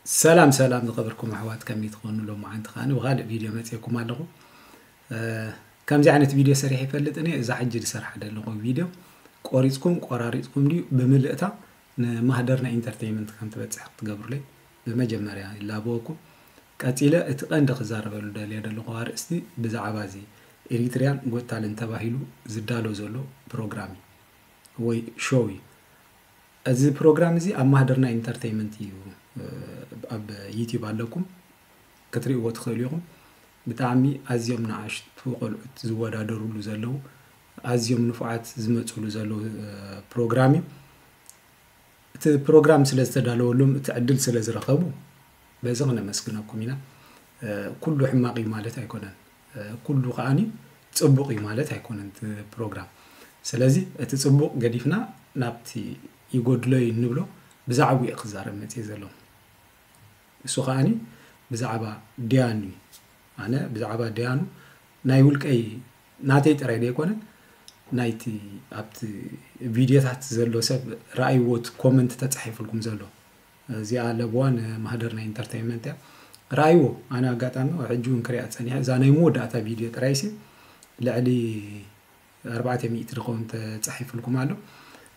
ሰላም ሰላም ዝኸበርኩም ኣሕዋት ከመይ ትኾኑ ሎማዓንቲ ከዓ ብካልእ ቪድዮ መፅኩም ኣለኹ ከምዚ ዓይነት ቪድዮ ሰሪሐ ይፈልጥ እኒ እዛ ሕጂ ዝሰርሓ ዘለኹ ቪድዮ ቆሪፅኩም ቆራሪፅኩም ድዩ ብምልእታ ንማህደርና ኢንተርቴይመንት ከም ትበፅሕ ክትገብሩለይ ብመጀመርያ ይላበወኩም ቀፂለ እቲ ቀንዲ ክዛረበሉ ደልዮ ዘለኹ ኣርእስቲ ብዛዕባ እዚ ኤሪትሪያን ጎታልን ተባሂሉ ዝዳሎ ዘሎ ፕሮግራም እዩ ወይ ሾው እዩ እዚ ፕሮግራም እዚ ኣብ ማህደርና ኢንተርተይመንት እዩ ኣብ ዩቲዩብ ኣለኩም ክትሪእዎ ትኽእሉ ኢኹም ብጣዕሚ ኣዝዮም ንኣሽቱ ቆልዑት ዝወዳደሩሉ ዘለዉ ኣዝዮም ንፉዓት ዝመፅሉ ዘለዉ ፕሮግራም እዩ እቲ ፕሮግራም ስለ ዝተዳለወሎም እቲ ዕድል ስለ ዝረኸቡ በዚ ክነመስግነኩም ኢና ኩሉ ሕማቕ እዩ ማለት ኣይኮነን ኩሉ ከኣ ጽቡቅ እዩ ማለት ኣይኮነን እቲ ፕሮግራም ስለዚ እቲ ጽቡቅ ገዲፍና ናብቲ ይጎድሎ እዩ እንብሎ ብዛዕብኡ እየ ክዛረብ መጽየ ዘለኹ ንሱ ከኣ ብዛዕባ ድያኑ እዩ ኣነ ብዛዕባ ድያኑ ናይ ውልቀይ ናተይ ጥራይ ዘይኮነ ናይቲ ኣብቲ ቪድዮታት ዘሎ ሰብ ረኣይዎት ኮመንት ተጻሒፍልኩም ዘሎ እዚኣ ለብዋ ንማህደር ናይ ኢንተርተይመንት እያ ረኣይዎ ኣነ ኣጋጣሚ ሕጂ እውን ክሪኣ ፀኒሐ እዛ ናይ መወዳእታ ቪድዮ ጥራይሲ ልዕሊ ኣርባዕተ ሚእቲ ዝኸውን ተፃሒፍልኩም ኣሎ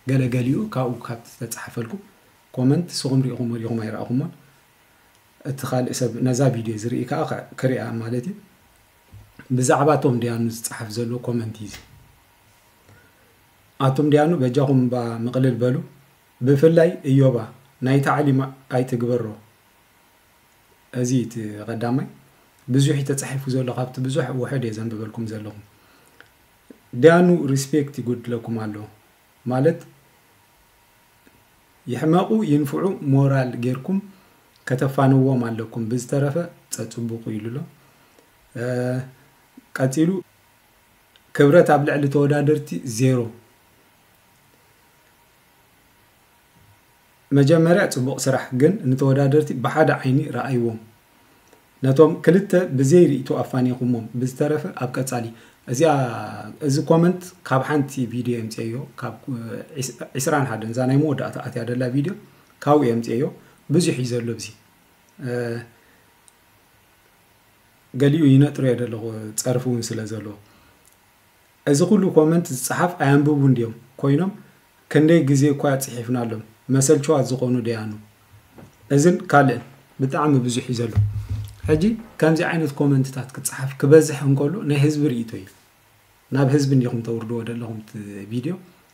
ገለ ገሊኡ ካብኡ ካብቲ ተፃሓፈልኩም ኮመንት ንስኹም ሪኢኹም ወዲኹም ኣይረኣኹሞን እቲ ካልእ ሰብ ነዛ ቪድዮ ዝርኢ ከዓ ክሪኣ ማለት እዩ ብዛዕባ እቶም ድያኑ ዝፀሓፍ ዘሎ ኮመንት እዩ ኣቶም ድያኑ በጃኹም ባ ምቕልል በሉ ብፍላይ እዮባ ናይ ታዕሊም ኣይትግበሮ እዚ እቲ ቀዳማይ ብዙሕ እዩ ተጻሒፉ ዘሎ ካብቲ ብዙሕ ውሑድ እየ ዘንብበልኩም ዘለኹ ዳያኑ ሪስፔክት ይጎድለኩም ኣሎ ማለት ይሕመቁ ይንፍዑ ሞራል ጌርኩም ከተፋንዎም ኣለኩም ብዝተረፈ ጸጽቡቁ ኢሉ ኣሎ ቀጺሉ ክብረት ኣብ ልዕሊ ተወዳደርቲ ዜሮ። መጀመርያ ጽቡቅ ስራሕ ግን ንተወዳደርቲ ብሓደ ዓይኒ ረኣይዎም ነቶም ክልተ ብዘይ ሪኢቶ ኣፋኒኩሞም ብዝተረፈ ኣብ ቀጻሊ እዚኣ እዚ ኮመንት ካብ ሓንቲ ቪድዮ የምጽኤዮ ካብ ዕስራን ሓደን እዛ ናይ መወዳእታ ኣትያ ደላ ቪድዮ ካብኡ የምጽኤዮ ብዙሕ እዩ ዘሎ ብዚ ገሊኡ ይነጥርዮ ደለኹ ጸርፊ እውን ስለ ዘለዎ እዚ ኩሉ ኮመንት ዝጸሓፍ ኣየንብቡን ድዮም ኮይኖም ክንደይ ግዜ እኳ ጽሒፍናሎም መሰልቸዋት ዝኾኑ ደያኑ እዝን ካልእን ብጣዕሚ ብዙሕ እዩ ዘሎ ሕጂ ከምዚ ዓይነት ኮመንትታት ክጸሓፍ ክበዝሕ እንከሎ ናይ ህዝቢ ርእይቶ እዩ ናብ ህዝቢ እንዲኹም ተውርድዎ ዘለኹም ቪድዮ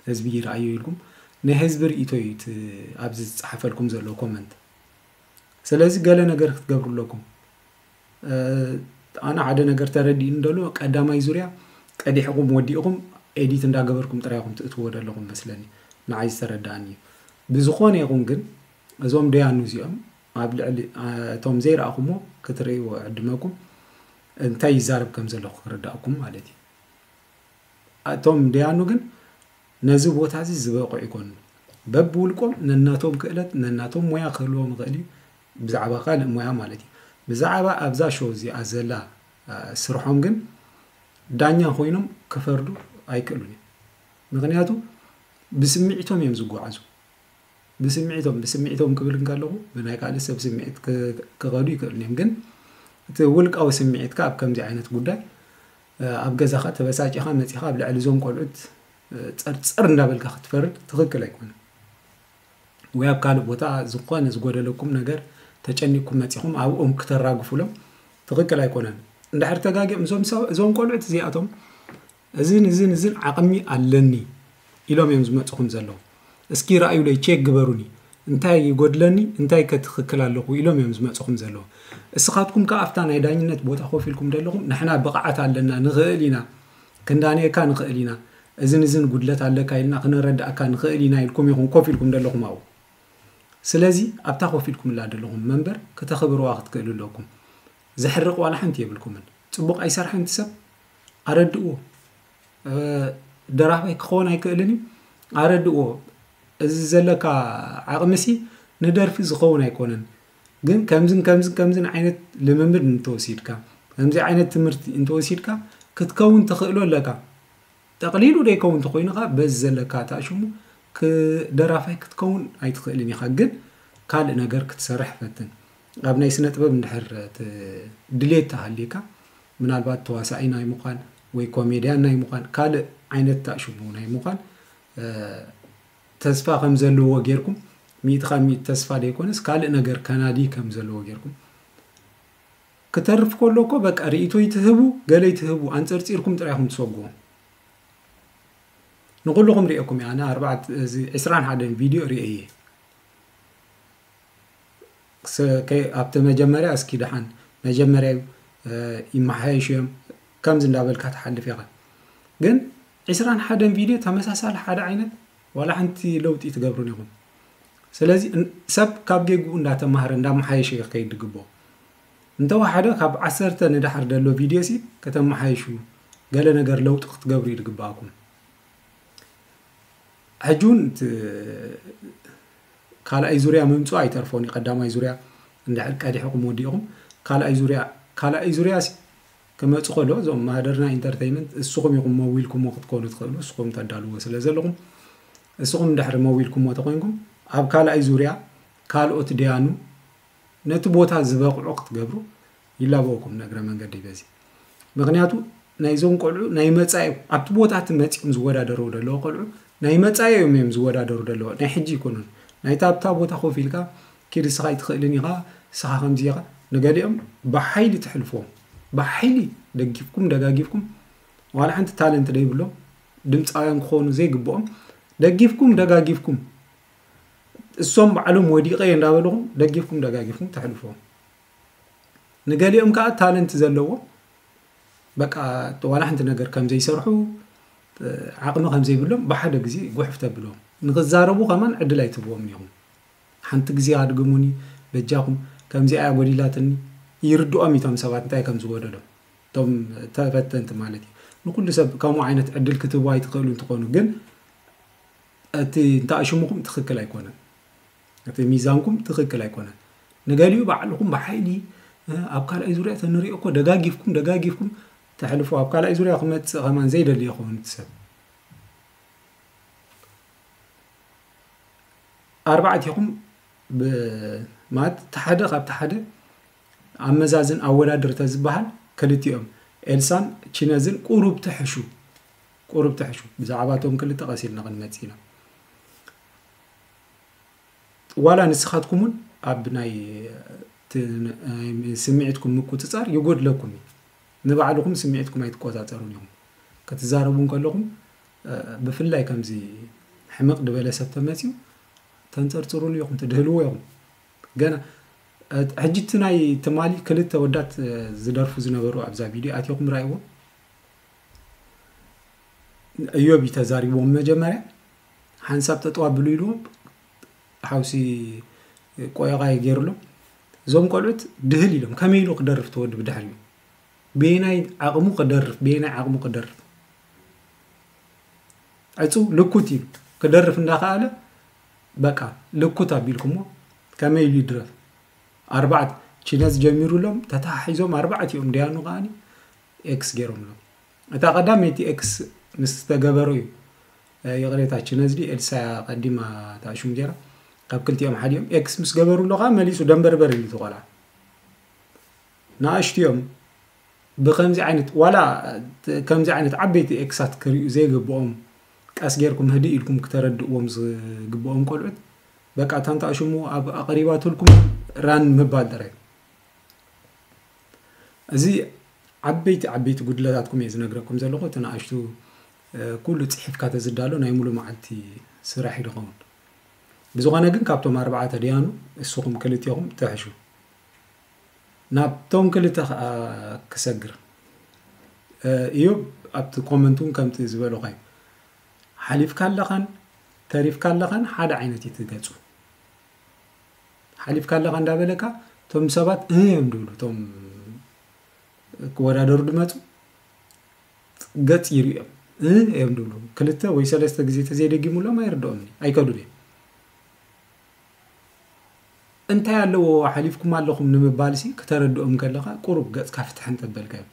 ህዝቢ ይርኣዮ ኢልኩም ናይ ህዝቢ ርእይቶ እዩ ኣብዚ ዝጸሓፈልኩም ዘሎ ኮመንት ስለዚ ገለ ነገር ክትገብሩ ኣለኩም ኣነ ሓደ ነገር ተረዲእኒ ደሎ ቀዳማይ ዙርያ ቀዲሕኹም ወዲእኹም ኤዲት እንዳገበርኩም ጥራይ ኢኹም ትእትዎ ደለኹም መስለኒ ንዓይ ዝተረዳእኒ እዩ ብዝኾነ ይኹን ግን እዞም ደያኑ እዚኦም ኣብ ልዕሊ እቶም ዘይረኣኹሞ ክትርእይዎ ዕድመኩም እንታይ ይዛረብ ከም ዘለኹ ክርዳእኩም ማለት እዩ እቶም ደያኑ ግን ነዚ ቦታ እዚ ዝበቕዑ ይኮኑ። በብውልቆም ነናቶም ክእለት ነናቶም ሞያ ክህልዎም ይኽእል እዩ ብዛዕባ ካልእ ሞያ ማለት እዩ። ብዛዕባ ኣብዛ ሾው እዚኣ ዘላ ስርሖም ግን ዳኛ ኮይኖም ክፈርዱ ኣይክእሉን እዮም። ምክንያቱ ብስምዒቶም እዮም ዝጓዓዙ። ብስምዒቶም ብስምዒቶም ክብል እንከለኹ ብናይ ካልእ ሰብ ስምዒት ክኸዱ ይክእሉ እዮም ግን እቲ ውልቃዊ ስምዒትካ ኣብ ከምዚ ዓይነት ጉዳይ ኣብ ገዛኻ ተበሳጪኻ መጺኻ ኣብ ልዕሊ እዞም ቆልዑት ጸርጸር እንዳበልካ ክትፈርድ ትኽክል ኣይኮነን። ወይ ኣብ ካልእ ቦታ ዝኾነ ዝጎደለኩም ነገር ተጨኒቅኩም መጺኹም ኣብኦም ክተራግፉሎም ትኽክል ኣይኮነን። እንድሕር ተጋጊኦም እዞም ቆልዑት እዚኣቶም እዝን እዝን እዝን ዓቕሚ ኣለኒ ኢሎም እዮም ዝመጽኹም ዘለዉ። እስኪ ርኣዩለይ ቼክ ግበሩኒ እንታይ ይጎድለኒ እንታይ ከ ትክክል ኣለኩ ኢሎም እዮም ዝመጽኹም ዘለዉ እስኻትኩም ከኣ ኣብታ ናይ ዳኝነት ቦታ ኮፍ ኢልኩም ደለኹም ንሕና ብቅዓት ኣለና ንክእል ኢና ክንዳንየካ ንክእል ኢና እዝን እዝን ጉድለት ኣለካ ኢልና ክነረድኣካ ንክእል ኢና ኢልኩም ኢኹም ኮፍ ኢልኩም ደለኹም ኣብኡ ስለዚ ኣብታ ኮፍ ኢልኩምላ ደለኹም መንበር ክተኽብርዋ ክትክእሉ ኣለኩም ዘሕርቅ ዋላ ሓንቲ የብልኩምን ጽቡቅ ኣይሰርሐን እቲ ሰብ ኣረድእዎ ደራፋይ ክኾን ኣይክእልን እዩ ኣረድእዎ እዚ ዘለካ ዓቕሚሲ ንደርፊ ዝኸውን ኣይኮነን። ግን ከምዝን ከምዝን ከምዝን ዓይነት ልምምድ እንተወሲድካ ከምዚ ዓይነት ትምህርቲ እንተወሲድካ ክትከውን ትኽእሎ ኣለካ። ጠቕሊሉ ደይከውን ተኾይኑ ኻኣ በዚ ዘለካ ኻኣ ሽሙ ደራፋይ ክትከውን ኣይትኽእልን ኢኻ። ግን ካልእ ነገር ክትሰርሕ ፈትን። ኣብ ናይ ስነ ጥበብ እንድሕር ድሌት ተሃልዩካ ምናልባት ተዋሳኢ ናይ ምዃን ወይ ኮሜድያን ናይ ምዃን ካልእ ዓይነት ታእ ሽሙ ናይ ምዃን ተስፋ ከም ዘለዎ ጌርኩም ሚእቲ ካብ ሚእቲ ተስፋ ዘይኮነስ ካልእ ነገር ከናዲ ከም ዘለዎ ጌርኩም ክተርፍ ከሎ እኮ በቃ ርእይቶ ይትህቡ ገለ ይትህቡ ኣንፀርፂርኩም ጥራይ ኢኹም ትሰጉዎም ንኩልኹም ሪኦኩም እየ ኣነ ዕስራን ሓደን ቪድዮ ሪአ እየ ኣብቲ መጀመርያ እስኪ ደሓን መጀመርያ እዩ ይመሓየሹ እዮም ከምዚ እንዳበልካ ትሓልፍ ኢኻ ግን ዕስራን ሓደን ቪድዮ ተመሳሳሊ ሓደ ዓይነት ዋላ ሓንቲ ለውጢ ትገብሩን ኢኹም ስለዚ ሰብ ካብ ጌግኡ እንዳተማሃረ እንዳመሓየሸ እዩ ክከይድ ዝግብኦ እንተወሓደ ካብ ዓሰርተ ንደሓር ዘሎ ቪድዮ ሲ ከተመሓይሹ ገለ ነገር ለውጢ ክትገብሩ እዩ ዝግብኣኩም ሕጂ እውን ካልኣይ ዙርያ ምምፅኡ ኣይተርፎን እዩ ቀዳማይ ዙርያ እንድሕር ቀዲሕኹም ወዲእኹም ካልኣይ ዙርያ ካልኣይ ዙርያሲ ክመፅ ከሎ እዞም ማህደርና ኢንተርተይመንት እስኹም ኢኹም መዊልኩሞ ክትኮኑ ትኽእሉ እስኹም ተዳልዎ ስለ ዘለኹም እስኹም እንድሕር መዊልኩሞ ተኮይንኩም ኣብ ካልኣይ ዙርያ ካልኦት ደያኑ ነቲ ቦታ ዝበቕዑ ክትገብሩ ይላበወኩም ንእግረ መንገደይ በዚ ምክንያቱ ናይዞም ቆልዑ ናይ መፃኢ ኣብቲ ቦታ እቲ መፂኦም ዝወዳደሩ ደለዎ ቆልዑ ናይ መፃኢ እዮም እዮም ዝወዳደሩ ደለዎ ናይ ሕጂ ይኮኑን ናይታ ኣብታ ቦታ ኮፍ ኢልካ ኪድ እስኻ ኣይትኽእልን ኢኻ እስኻ ከምዚ ኢኻ ንገሊኦም ብሓይሊ ትሕልፍዎም ብሓይሊ ደጊፍኩም ደጋጊፍኩም ዋላ ሓንቲ ታለንት ደይብሎም ድምፃውያን ክኾኑ ዘይግብኦም ደጊፍኩም ደጋጊፍኩም እሶም ባዕሎም ወዲቀ እንዳበልኹም ደጊፍኩም ደጋጊፍኩም ተሕልፍዎም ንገሊኦም ከኣ ታለንት ዘለዎም በቃ ዋላ ሓንቲ ነገር ከም ዘይሰርሑ ዓቕሚ ከም ዘይብሎም ብሓደ ግዜ ጉሕፍ ተብሎም ንክዛረቡ ከማን ዕድል ኣይትህብዎም ኒኹም ሓንቲ ግዜ ኣድግሙኒ በጃኹም ከምዚኣ እያ ጎዲላትኒ ይርድኦም እቶም ሰባት እንታይ ከም ዝጎደሎም እቶም ተፈተንቲ ማለት እዩ ንኩሉ ሰብ ከምኡ ዓይነት ዕድል ክትህቡ ኣይትኽእሉ እንትኾኑ ግን እቲ እንተኣሽሙኹም ትኽክል ኣይኮነን እቲ ሚዛንኩም ትክክል ኣይኮነን ንገሊኡ ባዕልኩም ብሓይሊ ኣብ ካልኣይ ዙርያ ተንሪኦ እኮ ደጋጊፍኩም ደጋጊፍኩም ተሕልፎ ኣብ ካልኣይ ዙርያ ክመፅእ ከማን ዘይደሊ ይኸውን እቲ ሰብ ኣርባዕቲኹም ማለት ተሓደ ካብ ተሓደ ኣመዛዝን ኣወዳድር ተዝበሃል ክልቲኦም ኤልሳን ቺነዝን ቁሩብ ትሕሹ ቁሩብ ትሕሹ ብዛዕባ እቶም ክልተ ቀሲልና ክንመፅእ ኢና ዋላ ንስኻትኩም እውን ኣብ ናይ ስምዒትኩም ምቁፅፃር ይጎድለኩም እዩ። ንባዕልኹም ስምዒትኩም ኣይትቆፃፀሩን ኢኹም። ክትዛረቡ እንከለኹም ብፍላይ ከምዚ ሕምቕ ድበለ ሰብ ተመፅዩ ተንፀርፅሩሉ ኢኹም ትድህልዎ ኢኹም ገና ሕጂ እቲ ናይ ትማሊ ክልተ ወዳት ዝደርፉ ዝነበሩ ኣብዛ ቪድዮ ኣትኹም ራእይዎ እዮብ እዩ ተዛሪብዎም መጀመርያ ሓንሳብ ጠጠው ኣብሉ ኢሉ ሓውሲ ቆየቛይ ገይሩሉ እዞም ቆልዑት ድህል ኢሎም ከመይ ኢሉ ክደርፍ ተወዲ ብድሕሪኡ በየናይ ዓቕሙ ክደርፍ በየናይ ዓቕሙ ክደርፍ ዕፁ ልኩት እዩ ክደርፍ እንዳኸኣለ በቃ ልኩት ኣቢልኩሞ ከመይ ኢሉ ይድረፍ ኣርባዕት ቺነዝ ጀሚሩሎም ተተሓሒዞም ኣርባዕት እዮም ድያኑ ከዓኒ ኤክስ ገይሮምሎም እታ ቀዳመይቲ ኤክስ ምስ ዝተገበሩ እዩ ይቕሬታ ችነዝዲ ኤልሳ እያ ቀዲማ እታ ሹም ጌራ ካብ ክልቲኦም ሓደ እዮም ኤክስ ምስ ገበሩሉ ከዓ መሊሱ ደንበርበር ይብል እቲ ቆልዓ ንኣሽቱ እዮም ብከምዚ ዓይነት ዋላ ከምዚ ዓይነት ዓበይቲ ኤክሳት ክሪኡ ዘይግብኦም ቀስ ጌርኩም ህድእ ኢልኩም ክተረድእዎም ዝግብኦም ቆልዑት በቃ ታንታ ሽሙ ኣብ ኣቐሪባትልኩም ራን ምባል ጥራይ እዚ ዓበይቲ ዓበይቲ ጉድለታትኩም እየ ዝነግረኩም ዘለኹ እቲ ንኣሽቱ ኩሉ ፅሒፍካ ተዝዳሎ ናይ ሙሉ መዓልቲ ስራሕ እዩ ዝኸውን ብዝኾነ ግን ካብቶም ኣርባዕተ ድያኑ እስኹም ክልቴኹም ትሕሹ ናብቶም ክልተ ከዓ ክሰግር እዩ ኣብቲ ኮመንት እውን ከምቲ ዝበለኹ እዩ ሓሊፍካ ኣለኻን ተሪፍካ ኣለኻን ሓደ ዓይነት እዩ ትገፁ ሓሊፍካ ኣለኻ እንዳበለካ እቶም ሰባት እ እዮም ድብሉ እቶም ክወዳደሩ ድመፁ ገፅ ይርኦም እ እዮም ድብሉ ክልተ ወይ ሰለስተ ግዜ ተዘይደጊሙሎም ኣይርድኦም ኣይከዱን እዮም እንታይ ኣለዎ ሓሊፍኩም ኣለኹም ንምባል ሲ ክተረድኦም ከለኻ ቁሩብ ገፅካ ፍትሕ እንተበልካ እዮም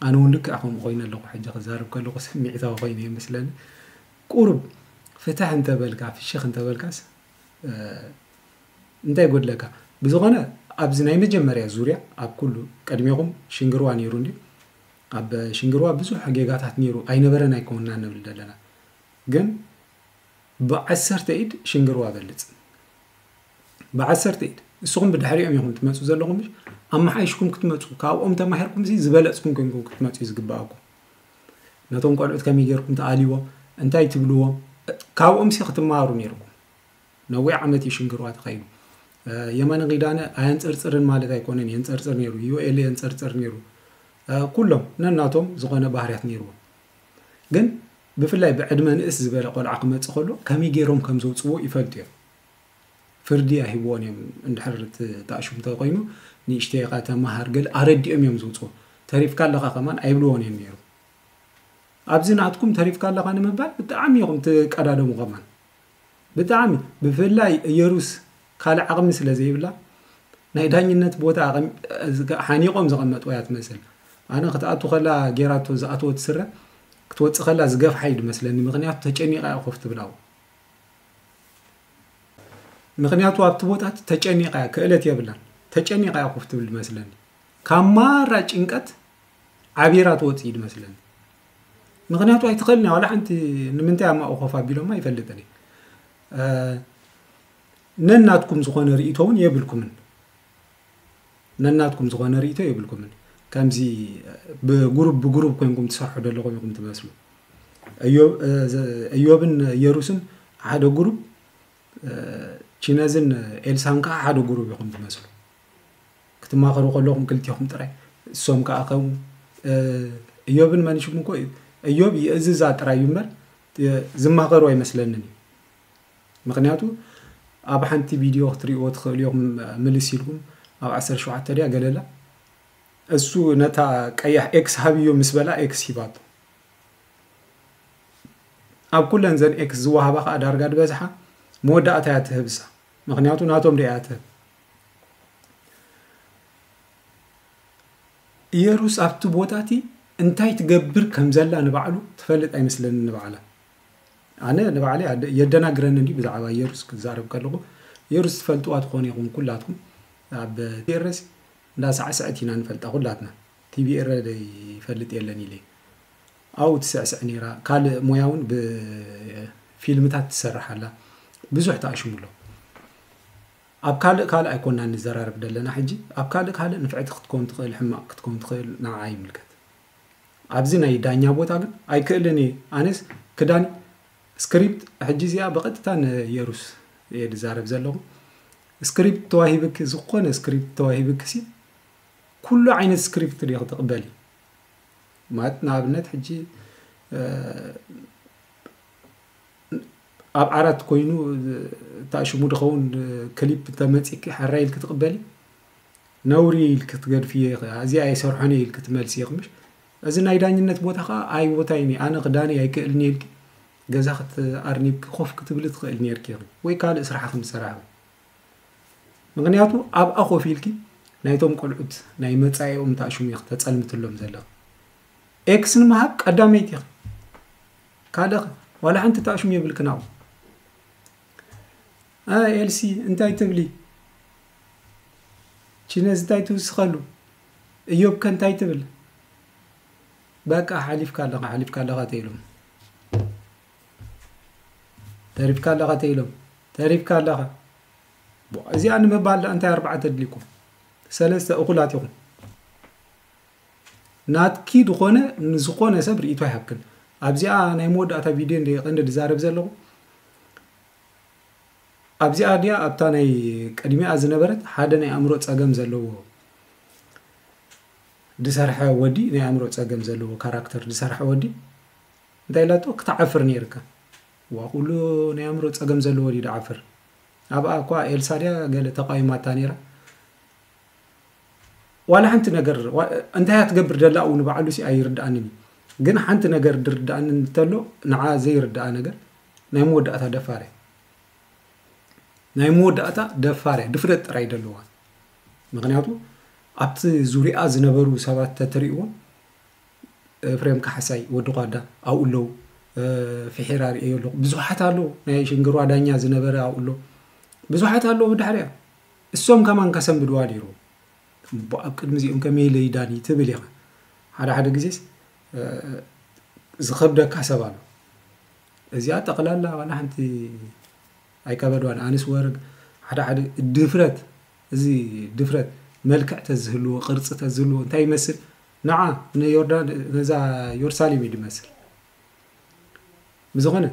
ኣነ እውን ልክዕ ከምኡ ኮይኑ ኣለኹ ሕጂ ክዛረብ ከለኹ ስምዒታዊ ኮይኑ እየ መስለኒ ቁሩብ ፍትሕ እንተበልካ ፍሽኽ እንተበልካስ እንታይ ጎድለካ ብዝኮነ ኣብዚ ናይ መጀመርያ ዙርያ ኣብ ኩሉ ቅድሜኹም ሽንግርዋ ነይሩ እንድዩ ኣብ ሽንግርዋ ብዙሕ ጌጋታት ነይሩ ኣይነበረን ኣይኮንና ንብል ዘለና ግን ብዓሰርተ ኢድ ሽንግርዋ በልፅ ብዓሰርተ ኢድ ንስኹም ብድሕሪኦም ኢኹም ትመፁ ዘለኹም ኣመሓይሽኩም ክትመፁ ካብኦም ተማሂርኩም ዝበለፅኩም ኮይንኩም ክትመፁ እዩ ዝግባኣኩም ነቶም ቆልዑት ከመይ ጌርኩም ትኣልይዎም እንታይ ትብልዎም ካብኦም ሲ ክትማሃሩ ኔርኩም ነዊሕ ዓመት እዩ ሽንግርዋ ተኸይዱ የማነ ኪዳነ ኣየንፀርፅርን ማለት ኣይኮነን የንፀርፅር ነይሩ ዩኤል የንፀርፅር ነይሩ ኩሎም ነናቶም ዝኾነ ባህርያት ነይርዎም ግን ብፍላይ ብዕድመ ንእስ ዝበለ ቆልዓ ክመፅእ ከሎ ከመይ ገይሮም ከም ዘውፅዎ ይፈልጡ እዮም ፍርዲ ኣይህብዎን እዮም እንድሕር እቲ ኣሽሙ ተኮይኑ ንእሽተይ ኢካ ተማሃር ገለ ኣረዲኦም እዮም ዝውጽዎ ተሪፍካ ኣለካ ከማን ኣይብልዎን እዮም ነይሩ ኣብዚ ናትኩም ተሪፍካ ኣለካ ንምባል ብጣዕሚ ኢኹም ትቀዳደሙ ከማን ብጣዕሚ ብፍላይ እየሩስ ካልእ ዓቕሚ ስለ ዘይብላ ናይ ዳኝነት ቦታ ሓኒቆም ዘቐመጥዎ እያ ትመስል ኣነ ክትኣቱ ከላ ጌራቶ ዝኣተወት ስረ ክትወፅእ ከላ ዝገፍሓ እዩ ድመስለኒ ምክንያቱ ተጨኒቃ እያ ኮፍ ትብላው ምኽንያቱ ኣብቲ ቦታ እቲ ተጨኒቓ እያ ክእለት የብላን ተጨኒቓ እያ ኮፍ ትብል መስለኒ ካብ ማራ ጭንቀት ዓቢራ ትወፅእ እዩ መስለኒ ምክንያቱ ኣይትኽእልን እያ ዋላ ሓንቲ ንምንታይ ኣማኡ ኮፍ ኣቢሎማ ይፈልጥን እዩ ነናትኩም ዝኾነ ርእቶ እውን የብልኩምን ነናትኩም ዝኾነ ሪኢቶ የብልኩምን ከምዚ ብጉሩብ ብጉሩብ ኮንኩም ትሰርሑ ዘለኹም ኢኹም ትመስሉ እዮብን የሩስን ሓደ ጉሩብ ቺነዝን ኤልሳን ከዓ ሓደ ጉሩብ ኢኹም ትመስሉ ክትማኸሩ ከለኹም ክልቲኹም ጥራይ እሶም ከዓ ከም እዮብን መንሽም እኮ እዮብ ይእዝዛ ጥራይ እዩ እምበር ዝማኸሩ ኣይመስለንን እዩ ምክንያቱ ኣብ ሓንቲ ቪድዮ ክትሪእዎ ትክእሉ ኢኩም ምልስ ኢልኩም ኣብ ዓሰርተ ሸውዓተ ድያ ገለላ እሱ ነታ ቀያሕ ኤክስ ሃብዮ ምስ በላ ኤክስ ሂባቶ ኣብ ኩለን ዘን ኤክስ ዝወሃባ ከዓ ዳርጋ ድበዝሓ መወዳእታ እያ ትህብሳ ምክንያቱ ናቶም ድያ እያ ትህብ ኢየሩስ ኣብቲ ቦታ እቲ እንታይ ትገብር ከም ዘላ ንባዕሉ ትፈልጥ ኣይመስለኒ ንባዕላ ኣነ ንባዕለይ የደናግረኒ እንድዩ ብዛዕባ የሩስ ክዛረብ ከለኹ የሩስ ትፈልጥዋ ትኾኑ ኢኹም ኩላትኩም ኣብ ቴረስ እንዳ ሳዕስዐት ኢና ንፈልጣ ኩላትና ቲቪ ኤረ ይፈልጥ የለን ኢለ ኣብኡ ትስዕስዕ ነይራ ካልእ ሞያ እውን ብፊልምታት ትሰርሕ ኣላ ብዙሕ ተኣሽሙ ኣሎ ኣብ ካልእ ካልእ ኣይኮናን ንዘራረብ ዘለና ሕጂ ኣብ ካልእ ካልእ ንፍዕቲ ክትከውን ትኽእል ሕማቕ ክትከውን ትኽእል ንዓዓ ይምልከት ኣብዚ ናይ ዳኛ ቦታ ግን ኣይክእልን እየ ኣነስ ክዳን ስክሪፕት ሕጂ እዚኣ ብቐጥታ ን የሩስ እየ ዝዛረብ ዘለኹ ስክሪፕት ተዋሂብኪ ዝኾነ ስክሪፕት ተዋሂብኪ ሲ ኩሉ ዓይነት ስክሪፕት ዲኺ ትቕበሊ ማለት ንኣብነት ሕጂ ኣብ ዓራት ኮይኑ ታሽሙ ድኸውን ክሊፕ ተመፂኪ ሓራይ ኢልኪ ትቕበሊ ነውሪ ኢልኪ ትገድፍዮ ኢኺ ኣዚ ኣይሰርሖን እየ ኢልኪ ትመልስዮ ክምሽ እዚ ናይ ዳኝነት ቦታ ከኣ ኣይቦታይን እዩ ኣነ ክዳኒ ኣይክእልን እየ ኢልኪ ገዛኺ ኣርኒብኪ ኮፍ ክትብሊ ትኽእል ኔርኪ ኢኺ ወይ ካልእ ስራሕኺ ምስ ሰራሕኺ ምክንያቱ ኣብኣ ኮፍ ኢልኪ ናይቶም ቆልዑት ናይ መጻኢኦም እንታይ ሽሙ ኢኺ ተጸልምትሎም ዘለኺ ኤክስ ንምሃብ ቀዳመይቲ ኢኺ ካልእኺ ዋላ ሓንቲ ታሽሙ የብልክን ኣብኡ ኣይ ኤልሲ እንታይ ትብሊ ቺነዝ ታይ ትውስኸሉ እዮብ ከ እንታይ ትብል በቃ ሓሊፍካ ኣለኻ ሓሊፍካ ኣለኻ ተይሎም ተሪፍካ ኣለኻ ተይሎም ተሪፍካ ኣለኻ እዚኣ ንምባል ዳ እንታይ ኣርባዕተ ኣድሊኩም ሰለስተ እኹላት ኢኹም ናትኪ ዝኾነ ንዝኾነ ሰብ ርእቶ ይሃብክን ኣብዚኣ ናይ መወዳእታ ቪድዮ እንደ ቀንዲ ዝዛረብ ዘለኹ ኣብዚኣ ድያ ኣብታ ናይ ቅድሚኣ ዝነበረት ሓደ ናይ ኣእምሮ ጸገም ዘለዎ ዝሰርሐ ወዲ ናይ ኣእምሮ ጸገም ዘለዎ ካራክተር ዝሰርሐ ወዲ እንታይ ኢላቶ ክትዓፍር ነይርካ ዋ ኩሉ ናይ ኣእምሮ ጸገም ዘለዎ ድዩ ድዓፍር ኣብኣ እኳ ኤልሳ ድያ ገለ ተቃዊማታ ነይራ ዋላ ሓንቲ ነገር እንታይ እያ ትገብር ደላ እውን ባዕሉ ሲ ኣይርድኣንን ግን ሓንቲ ነገር ድርድኣንን እንተሎ ንዓ ዘይርድኣ ነገር ናይ መወዳእታ ደፋር እያ ናይ መወዳእታ ደፋር እያ ድፍረት ጥራይ ደለዋ ምክንያቱ ኣብቲ ዙሪኣ ዝነበሩ ሰባት ተትሪእዎም ኤፍሬም ካሕሳይ ወዲ ኳዳ ኣብኡ ኣለዉ ፍሒራ ርእዮ ኣለኹ ብዙሓት ኣለዉ ናይ ሽንግሯ ዳኛ ዝነበረ ኣብኡ ኣሎ ብዙሓት ኣለዉ ብድሕሪያ እሶም ከማን ከሰንብድዋ ነይሩ ኣብ ቅድሚ እዚኦም ከመይ ኢለ ይዳኒ ትብል ኢኻ ሓደ ሓደ ግዜስ ዝኸብደካ ሰብ ኣሎ እዚኣ ጠቅላላ ዋላ ሓንቲ ኣይከበድዋን ኣንስ ወርግ ሓደ ሓደ ድፍረት እዚ ድፍረት መልክዕ ተዝህልዎ ቅርጺ ተዝህልዎ እንታይ ይመስል ንዓ ንዮርዳን ነዛ ዮርሳሌም እዩ ድመስል ብዝኾነ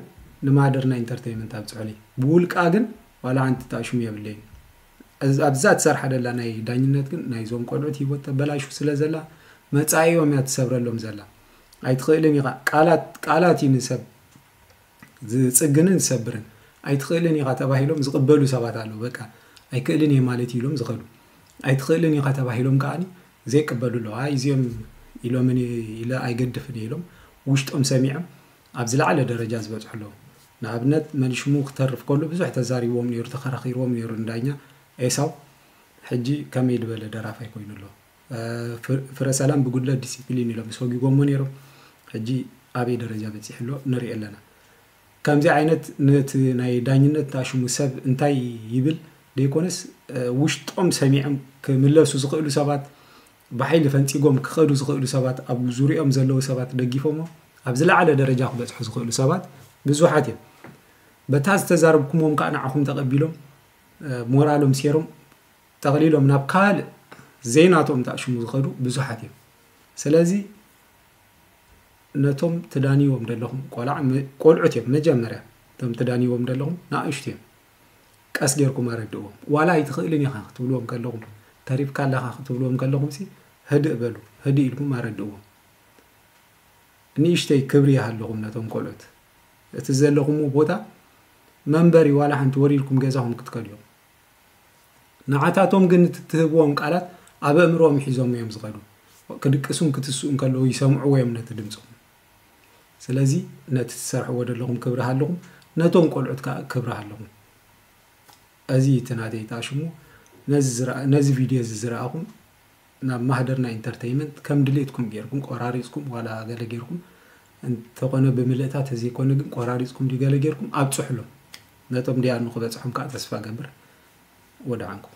ንማደርና ኢንተርቴይመንት ኣብጽሑሊ ብውልቃ ግን ዋላ ሓንቲ ጣሽሙ የብለይ ኣብዛ ትሰርሓ ደላ ናይ ዳኝነት ግን ናይዞም ቆልዑት ሂወት ተበላሹ ስለ ዘላ መጻኢኦም እያ ትሰብረሎም ዘላ ኣይትኽእልን ኢኻ ቃላት ቃላት እዩ ንሰብ ዝፅግንን ዝሰብርን ኣይትኽእልን ኢኻ ተባሂሎም ዝቕበሉ ሰባት ኣለዉ በቃ ኣይክእልን እየ ማለት ኢሎም ዝኸዱ ኣይትኽእልን ኢኻ ተባሂሎም ከዓኒ ዘይቅበሉ ኣለዉ ኣይ እዚኦም ኢሎምን ኢለ ኣይገድፍን ኢሎም ውሽጦም ሰሚዖም ኣብ ዝለዓለ ደረጃ ዝበፅሑ ኣለዉ ንኣብነት መልሽሙ ክተርፍ ከሉ ብዙሕ ተዛሪቦም ነይሩ ተኸራኺርዎም ነይሩ ንዳኛ ኤሳው ሕጂ ከመይ ዝበለ ደራፋይ ኮይኑ ኣሎ ፍረሰላም ብጉድለት ዲሲፕሊን ኢሎም ሰጒጎሞ ነይሮም ሕጂ ኣበይ ደረጃ በፂሑ ኣሎ ንሪኦ ኣለና። ከምዚ ዓይነት ነቲ ናይ ዳኝነት ታሽሙ ሰብ እንታይ ይብል ደይኮነስ ውሽጦም ሰሚዖም ክምለሱ ዝኽእሉ ሰባት ብሓይሊ ፈንፂጎም ክኸዱ ዝኽእሉ ሰባት ኣብ ዙሪኦም ዘለዉ ሰባት ደጊፎሞ ኣብ ዝለዓለ ደረጃ ክበፅሑ ዝኽእሉ ሰባት ብዙሓት እዮም። በታ ዝተዛረብኩምዎም ከዓ ንዓኹም ተቐቢሎም ሞራሎም ሴሮም ጠቕሊሎም ናብ ካልእ ዘይናቶም ተኣሽሙ ዝኸዱ ብዙሓት እዮም። ስለዚ ነቶም ትዳንይዎም ደለኹም ቆልዓ ቆልዑት እዮም መጀመርያ እቶም ትዳንይዎም ደለኹም ንኣሽቱ እዮም። ቀስ ጌርኩም ኣረድእዎም። ዋላ ኣይትኽእልን ኢኻ ክትብልዎም ከለኹም ተሪፍካ ኣለኻ ክትብልዎም ከለኹምሲ ህድእ በሉ። ህድእ ኢልኩም ኣረድእዎም። ንእሽተይ ክብሪ ይሃለኹም ነቶም ቆልዑት። እቲ ዘለኹምዎ ቦታ መንበሪ ዋላ ሓንቲ ወሪድኩም ገዛኹም ክትከዱ እዮም። ንዓታቶም ግን እቲ እትህብዎም ቃላት ኣብ ኣእምሮኦም ሒዞም እዮም ዝኸዱ። ክድቅሱን ክትስኡን ከለዉ ይሰምዕዎ እዮም ነቲ ድምጾም። ስለዚ ነቲ ትሰርሕዎ ዘለኹም ክብሪ ሃልኹም ነቶም ቆልዑት ከኣ ክብሪ ሃልኹም። እዚ እቲ ናተይ ጣሽሙ ነዚ ቪድዮ እዚ ዝረኣኹም ናብ ማህደር ናይ ኢንተርተይመንት ከም ድሌትኩም ጌርኩም ቆራሪጽኩም ዋላ ገለ ጌርኩም እንተኾነ ብምልእታ ተዘይኮነ ግን ቆራሪጽኩም ድዩ ገለ ጌርኩም ኣብጽሑሎም ነቶም ዲያኑ ክበጽሖም ከኣ ተስፋ ገብር ወድዓንኩም።